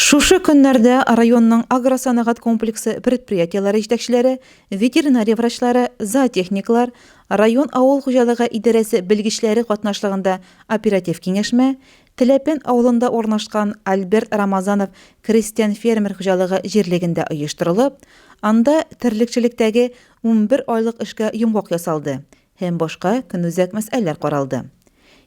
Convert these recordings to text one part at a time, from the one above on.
Шушы көннәрдә районның агросәнәгать комплексы предприятиеләре җитәкчеләре, ветеринария врачлары, зоотехниклар, район авыл хуҗалыгы идарәсе белгечләре катнашлыгында оператив киңәшмә, Теләпән авылында урнашкан Альберт Рамазанов крестьян-фермер хуҗалыгы җирлегендә оештырылып, анда терлекчелектәге унбер айлык эшкә йомгак ясалды, һәм башка көнүзәк мәсьәләләр каралды.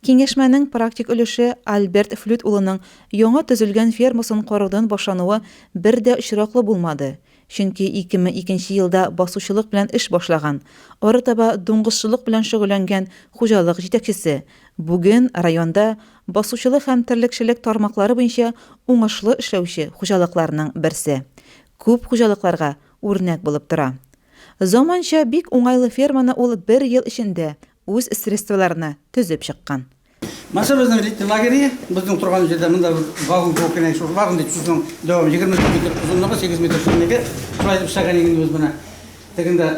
Киңәшмәнең практик өлеше Альберт Флют улының яңа төзелгән фермасын караудан башлануы бер дә очраклы булмады, чөнки 2002 елда басучылык белән эш башлаган, арытаба дуңгызчылык белән шөгыльләнгән хуҗалык җитәкчесе бүген районда басучылык һәм терлекчелек тармаклары буенча уңышлы эшләүче хуҗалыкларның берсе, күп хуҗалыкларга үрнәк булып тора. Заманча, бик уңайлы ферманы ул бер ел эчендә үз средстволарына төзеп чыккан. Маса безнең летний лагере, безнең торган җирдә монда вагон кебек кенә шул вагон дип сүзнең дәвамы, 24 метр озынлыгы, 8 метр чынлыгы, шулай итеп эшләгән идек без моны. Тегендә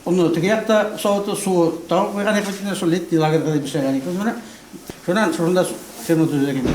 оны теге якта савыты, суы тагы куйган идек, шул летний лагерьда дип эшләгән идек без моны. Шуннан шунда ферма төзедек инде.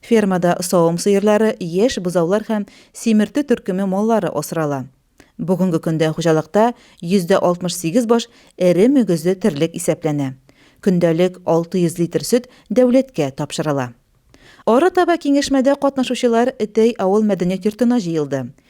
Фермада савым сыерлары, яшь бозаулар һәм симерте төркеме маллары асрала. Бүгенге көндә хуҗалыкта 68 баш эре мөгезле терлек исәпләнә. Көндәлек 600 литр сөт дәүләткә тапшырыла. Арытаба киңәшмәдә катнашучылар Этәй авыл мәдәният йортына җыелды.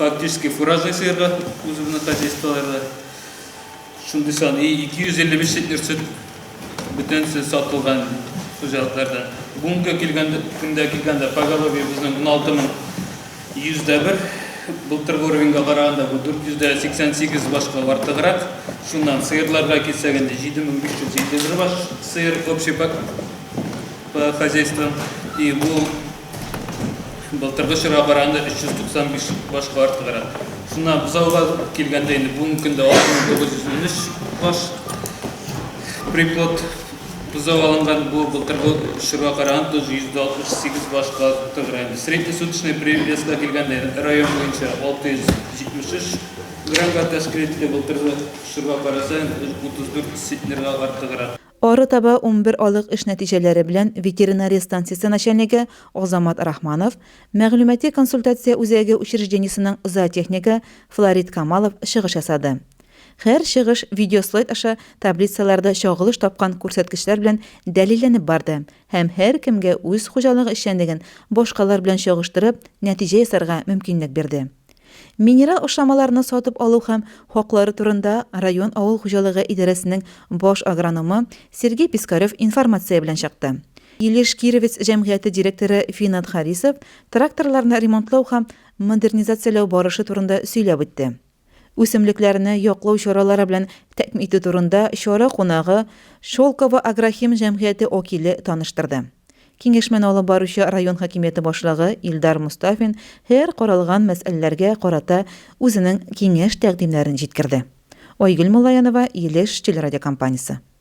фактически фураж ясыйрга үзебезнең хозяйстволарда. Шундый сан и 255 литр сөт бөтенесе сатылган хуҗалыкларда. Бүгенге килгәндә көндә килгәндә поголовье безнең 16 мең 100 дә бер. Былтыргы уровеньга караганда бу 488 башка артыграк. Шуннан сыерларга килсәк инде 7551 баш сыер общий по хозяйствам. И бу Былтыргы чорга караганда 395 башка артыграк. Шуннан бозауга килгәндә инде бүгенге көндә 6913 баш приплод бозау алынган. Бу былтыргы чорга караганда 168 башка артыграк. Среднесуточный привеска килгәндә район буенча 673 граммга тәшкил итте. Былтыргы чорга караса 34 центнерга артыграк. Арытаба унбер алык эш нәтиҗәләре белән ветеринария станциясе начальнигы Азамат Рахманов, мәгълүмати-консультация үзәге учреждениесенең зоотехнигы Флорид Камалов чыгыш ясады. Һәр чыгыш видеослайд аша таблицаларда чагылыш тапкан күрсәткечләр белән дәлилләнеп барды һәм һәркемгә үз хуҗалыгы эшчәнлеген башкалар белән чагыштырып, нәтиҗә ясарга мөмкинлек бирде. Минерал ашламаларны сатып алу һәм хаклары турында район авыл хуҗалыгы идарәсенең баш агрономы Сергей Пискарев информация белән чыкты. Илеш Кировец җәмгыяте директоры Финат Харисов тракторларны ремонтлау һәм модернизацияләү барышы турында сөйләп үтте. Үсемлекләрне яклау чаралары белән тәэмин итү турында чара кунагы Шелково агрохим җәмгыяте окиле таныштырды. Киңәшмәне алып баручы район хакимияте башлыгы Илдар Мостафин һәр каралган мәсьәләләргә карата үзенең киңәш-тәкъдимнәрен җиткерде. Айгөл Муллаянова, Илеш телерадиокомпаниясе.